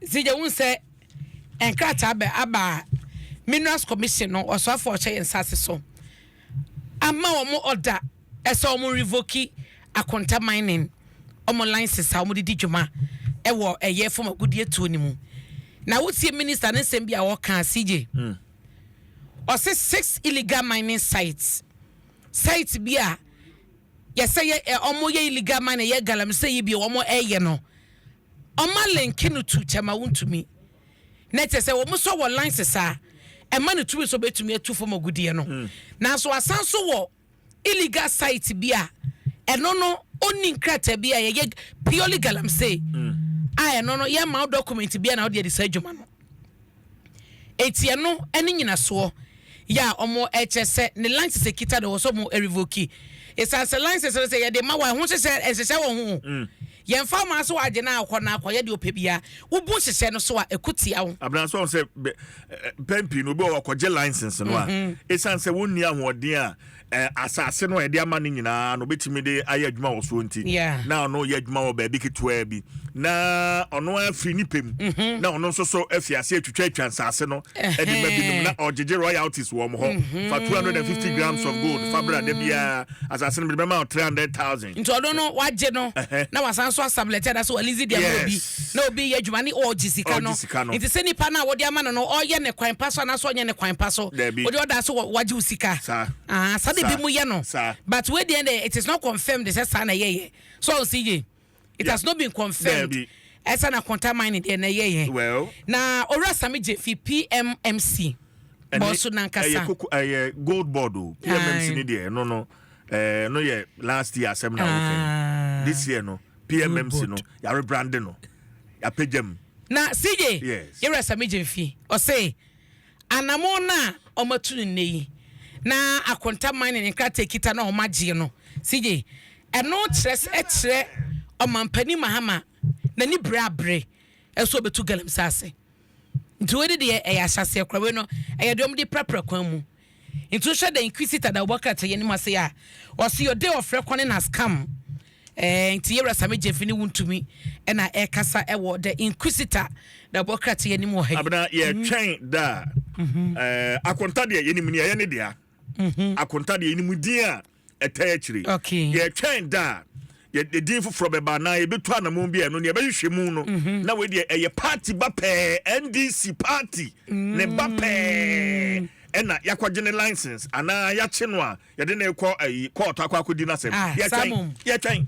Dze gya hu sɛ nkrataa bɛ aba Minerals Commission no ɔsoafo a ɔhyɛ yɛn nsa ase so ama wɔn ɔda ɛsɛ wɔn revoki Akonta Mining wɔn license a wɔde di dwuma ɛwɔ ɛyɛ fam agudie tuo no mu. Na wotie minister ne nsɛm bi a wɔka CJ. Mm. Ɔse six illegal mining sites. Site bi a Yɛsɛ yɛ ɛ ɔmo yɛ illegal mining yɛ galamsey yi bio ɔmo ɛyɛ no ɔma link no to kyɛma wontumi na kyɛ sɛ ɔmo sɔ wɔ license a ɛma no tumi sɛ ɔbɛtumi atu fam agudeɛ no hmm. nanso asan so wɔ illegal site bi a ɛno no ɔnni nkrataa bi a yɛyɛ purely galamsey hmm. a ɛno no yɛma wo document bi a na wode ade saa adwuma no Enti ɛno ne nyinasoɔ yɛ a wɔkyerɛ sɛ ne license ɛkita no ɛwɔ sɛ wɔn revoke. Ɛsiane sɛ license no sɛ yɛde ma wɔn a ɛho nhyehyɛ nhyehyɛ wɔ ho o. Yɛmfa mmaa so agye no a ɔkɔ no akɔyɛ deɛ ɔpɛ biara. Wobu nhyehyɛ no so a ɛko tia wo. Abena so ahu sɛ mpɛn pii no obi wɔ hɔ ɔkɔgye license no a ɛsiane sɛ wɔnni ahoɔden a Asase no a yɛde ama no nyinaa no, obetumi de ayɛ adwuma wɔ soɔ nti, na ɔno yɛ adwuma wɔ baabi ketewaa bi, na ɔno afiri ne pɛ mu, mhm. na ɔno nso so afi ase atwitwa atwa nsase no de ma binom, na ɔgyegye royalties wɔ wɔn hɔ. Mhm. Fa 250 grams of gold fa bra da biara, asase no mede bɛma wo 300,000. nti ɔno no wagye no na wasan so asablɛte anaasɛ walisi deɛ ma obi na obi yɛ adwuma ne ɔregye sika no nti sɛ nipa no a wɔde ama no no ɔyɛ ne kwan pa so anaasɛ ɔnyɛ ne kwan pa so wode ɔda so wagye wo sika saa de bi mu yɛ no but wedeɛ dɛ it is not confirmed sɛ saa na ɛyɛyɛ so ɔnsi ye it has not been confirmed ɛsɛ na kɔnta man ne deɛ na ɛyɛyɛ na owura same gye fi pmmc bɔso nankasa ɛyɛ gold board o pmmc ne deɛ no no ɛɛ no yɛ last year asɛm na wɔka yi this year no pmmc no yare brande no apagya mu. na cj yɛwura sami gyemfi ɔse anamo no a ɔmatu no nnɛ yi na akonta man ne ne nkrataa kita na ɔmagyeɛ no cj ɛno kyerɛ sɛ ɛkyerɛ ɔmampani mahama n'ani bere abere ɛso ɔbɛtu galamsey ase nti wei de deɛ ɛyɛ ahyɛaseɛ kora wei no ɛyɛ deɛ ɔmde prapra kwan mu Ntu nhwɛ dɛ Inquisitor da ɔbɔ krataa yi anim ase a, ɔse yɛ ɔdɛ ɔfrɛ kwane na scam eh, nti Yɛwura Sammy Gyamfi ne Wontumi na ɛrekasa wɔ dɛ Inquisitor da ɔbɔ krataa yi anim wɔ ha yi. Abena, yɛretwɛn da a, eh, Akonta deɛ yɛnim nea ɛyɛ ne dea, Akonta deɛ yɛnim din a ɛtaa akyire yɛtwɛn da a yɛde din foforɔ bɛba anaa yɛbɛtu anamɔn bi a ɛno nea ɛbɛhwehwɛ mu no mhm. na wei deɛ ɛyɛ party ba pɛɛ ndc party ne ba mm. pɛɛ ɛna yɛakɔgye ne license anaa yɛakye no a yɛde ne kɔ ayi kɔɔtɔ akɔ akɔdi no asɛm ah, yɛtwɛn yɛtwɛn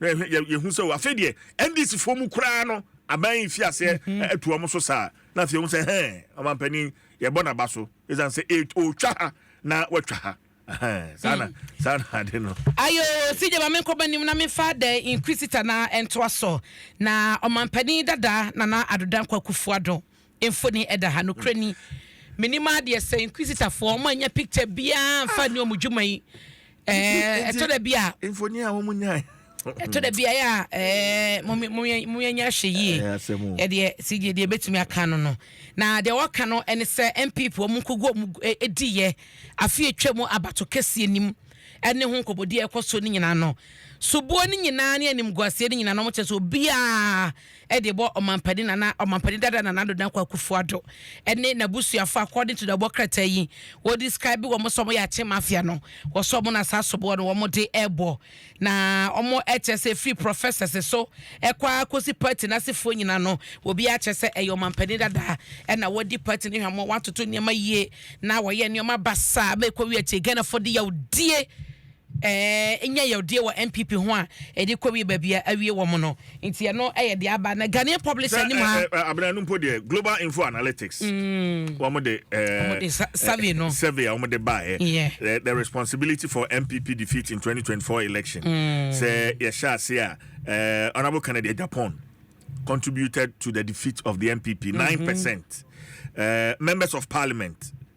na yɛhu sɛ afei deɛ ndc foɔ mu koraa no aban yi fi aseɛ mhm. atu wɔn so saa na afei wɔn sɛ hɛn ɔmampanin yɛbɔ n'aba so ɛsan sɛ ɔtwa ha na watwa ha saa na saa na ade no. ayo sidi maame nkɔba nim na mefa the inquisitor na ntoa so na ɔmampanin dada nana adoda nkwakufoɔ do. Mfoni ɛda ha, nokorɛ ni. Menim ara deɛ sɛ Inquisitor foɔ wɔn annya picture biara amfa anni wɔn dwuma yi ɛɛɛ ɛtɔ da bi a. Mfoni a wɔn nyae. Ɛtɔ da bi a ɛyɛ a ɛɛɛ mo me mo yɛ mo yɛ nyɛ ahwɛ yie. Ɛyɛ asɛm o. Ɛdeɛ CJ deɛ ebetumi aka ano no. Na deɛ ɔka no ɛne sɛ NPP wɔn nko gu wɔn ɛ ɛdiiɛ afe atwa mu abato kɛseɛ nim ɛne ho nkɔbɔdie a ɛkɔ soɔ no nyinaa no. Soboɔ no nyinaa ne animguaseɛ no nyinaa no wɔn kyerɛ sɛ obiara de bɔ Ɔmampanin Nana Ɔmampanin Dada Nana Addo Dankwa Akufo-Addo ne n'abusuafo according to the ɛbɔ krataa yi wɔ describe wɔn sɛ wɔn yɛ Akye Mafia no wɔ sɛ wɔn na saa soboɔ no wɔn de ɛbɔ na wɔn kyerɛ sɛ ɛfiri professors so ɛkɔ ara kɔsi party no asefoɔ nyina no obiara kyerɛ sɛ ɛyɛ Ɔmampanin Dada ɛna wɔdi party no hwamɔ wɔatoto nneɛma yie na wɔyɛ nneɛma basaa ma ɛkɔ wie akyire Ghanafoɔ de yawdie nya yawdie wɔ NPP ho a ɛde kɔwie baabi a awie wɔn no nti ɛno yɛ deɛ aba na Ghanaian publisher anim ha. Abena no mpo deɛ Global Info Analytics mm. wɔn de survey no survey a wɔn de baeɛ the responsibility for NPP defeat in 2024 election mm. sɛ yɛhyɛ ase a Honourable Kennedy Agyapong contributed to the defeat of the NPP mm-hmm. nine percent members of parliament.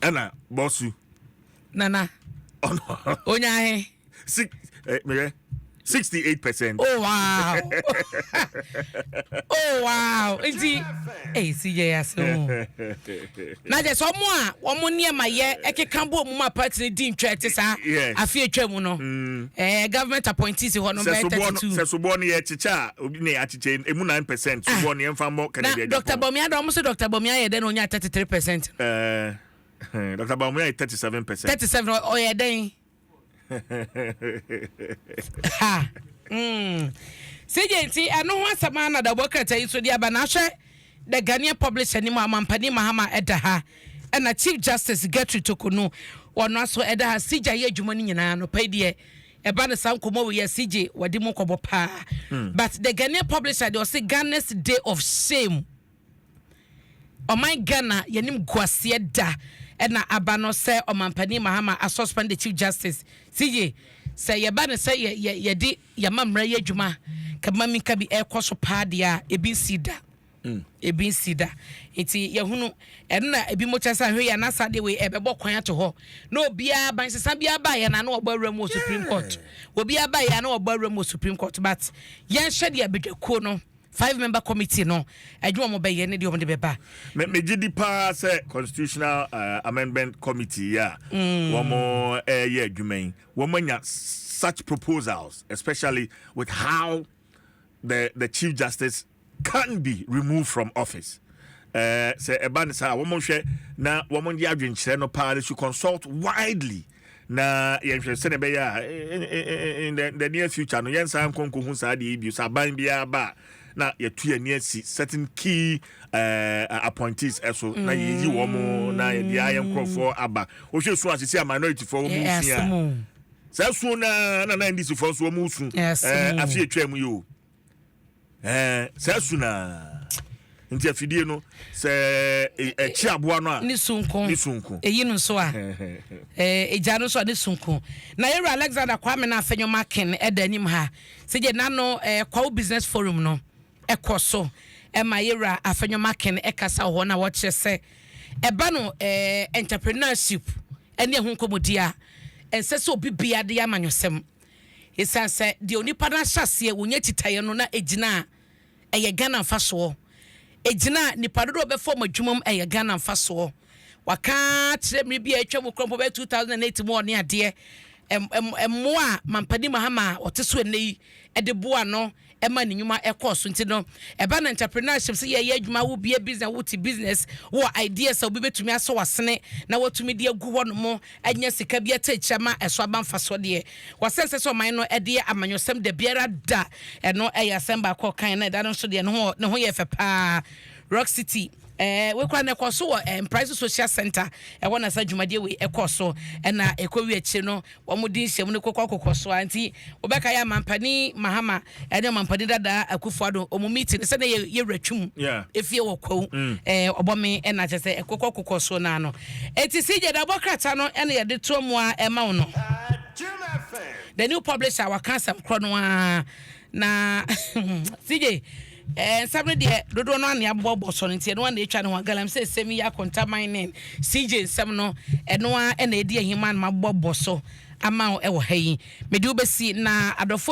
ɛna bɔsu. nana. ɔnɔ. onyahe. six ɛ eh, mɛyɛ sixty eight percent. oh wow oh wow nti ɛyɛ si yɛ yase o na jɛ sɛ ɔmo a ɔmo nneɛma yɛ ɛkeka bɔ ɔmo ma party ni di ntwa ɛte saa afi atwa mu no ɛɛ mm. eh, government appointees hɔ no bɛyɛ thirty two. sɛ soboɔ no yɛ kyekyɛ a obi na yɛ gye emu nine percent so bɔ ne yɛmfa mmɔ Kennedy Agyapong. Na Dɔkta Bawumia de wɔn so Dɔkta Bawumia yɛ dɛn na ɔnya thirty three percent no. Ɛɛ Dɔkta Bawumia yɛ thirty seven percent. Thirty seven ɔyɛ dɛn. ha mm. sɛgye nti ɛno ho asɛm a na dabɔ krataa yi so de aba na ahwɛ the ghanaian publisher ni mu amampani mahama ɛda ha ɛna chief justice gertrude tokonu wɔno aso ɛda ha sigya yɛ adwuma no nyinaa no pɛi deɛ Ɛba no saa nkɔmmɔ wei yɛse gye wadi mu nkɔmmɔ paa but the Ghanaian publisher deɛ ɔse Ghana's day of shame ɔman Ghana yɛnim guaseɛ da ɛna aba no sɛ ɔmanpanin Mahama a suspend the chief justice si ye sɛ yɛba no sɛ yɛ yɛ yɛde yɛma mmara yɛ adwuma kɛbɛma minka bi ɛkɔ so paa deɛ a ebi nsii da. Ebi nsi da. Ntsi yɛhunu ɛno na ebinom kyerɛ sɛ ahwɛ yi ana saa adeɛ wei ɛbɛbɔ kwan ato hɔ na obiara aba nsesa biara ba yɛ na na wɔbɔ awura mu wɔ Supreme Court. Obiara ba yɛ na wɔbɔ awura mu wɔ Supreme Court but yɛnhwɛ deɛ badwakuo no five member committee no adwuma wɔn bɛyɛ ne deɛ wɔn de bɛba. Me megye di paa sɛ constitutional uh, amendment committee yi a wɔn ɛreyɛ adwuma yi wɔn anya such proposals especially with how the the chief justice can be removed from office eh, sɛ ɛba ne saa wɔn nhwɛ na wɔn de adwenkyerɛ no paa they should consult widely na yɛnhwɛ sɛdeɛ ɛbɛyɛ a eh, eh, in the, the near future no yɛn nsa nkɔ nkɔhu saa deɛ yi bio sɛ aban biara ba a na yɛtu yɛn ani asi certain key uh, appointees ɛso mm. na yɛyi wɔn na yɛde ayɛ nkurɔfoɔ aba wohwɛ su asese a minority foɔ wɔn nsia saa suo no ara na na ndisifoɔ nso wɔn resu ɛɛ afe atwa mu yi o ɛɛ saa su no ara nti afidie no sɛ ɛkyi aboa no a ne sunko ne sunko eyi no nso a ɛɛ egya no nso a ne sunko na yɛwura alexander kwame na afɛnyɔ makin ɛda anim ha sɛ gye nano ɛɛ kwawo business forum no ɛkɔ so ɛma yɛwura afɛnyɔ makin ɛkasa wɔ hɔ na wɔkyerɛ sɛ ɛba no ɛɛ entrepreneurship. ɛne ɛho nkɔmmɔdie a ɛnsɛ sɛ obi biara de yɛ amanyɔsɛm ɛsiane sɛ deɛ onipa no ahyɛ aseɛ wɔnya kyitaeɛ no na ɛgyina a ɛyɛ Ghana mfasoɔ ɛgyina a nnipa dodoɔ a wɔbɛfa wɔn adwuma mu ɛyɛ Ghana mfasoɔ Waka akyerɛ mmere bi a atwam mu koraa mpo bɛyɛ 2008 mu a ɔne adeɛ ɛm ɛm mmoa a Mampanin Mahama a ɔte so ɛnnɛ yi de boa ano ɛma ne nnwuma ɛkɔɔ so nti no ɛba no entrepreneurship sɛ yɛyɛ adwuma wo bie business wo te business wo wɔ ideas sɛ obi bɛtumi asɔ wasene na watumi de agu hɔ nom anya sika bi ɛtɛ akyira ma ɛso aba mfa soɔ deɛ wɔsɛ nsɛ sɛ ɔman no ɛdeɛ amanyɔsɛm da biara da ɛno ɛyɛ asɛm baako ɔkan na ɛda no nso deɛ ne ho yɛ fɛ paa rock city Ɛɛ wei koraa na ɛkɔ so wɔ ɛɛ Mpraeso Social Center ɛhɔ na saa dwumadie wei ɛkɔ so ɛna ɛkɔ wie akyire no wɔn di nhyɛmu no kokɔ kokɔ so a nti wɔbɛka yɛ amampanin Mahama ɛne amampanin dadaa Akufo-Addo wɔn meeting sɛ na yɛ yɛ wura twum efie wɔ kwawu mm. ɛɛ ɔbɔme ɛna kyɛ sɛ ɛkokɔ kokɔ so naa no eti si gya dabɔ krataa no ɛna yɛde to mu a ɛma wɔn no the new publisher waka asɛm korɔ no ara. Na CJ, eh, nsɛm no deɛ dodoɔ no ane abobɔbɔ sɔ no nti ɛno a na ɛtwa ne ho agalam sɛ ɛsɛm yi akontaman ne CJ nsɛm no ɛno a ɛna ɛdi ahiman ma abobɔbɔ so ama wo ɛwɔ ha yi mede wobɛsi na adɔfo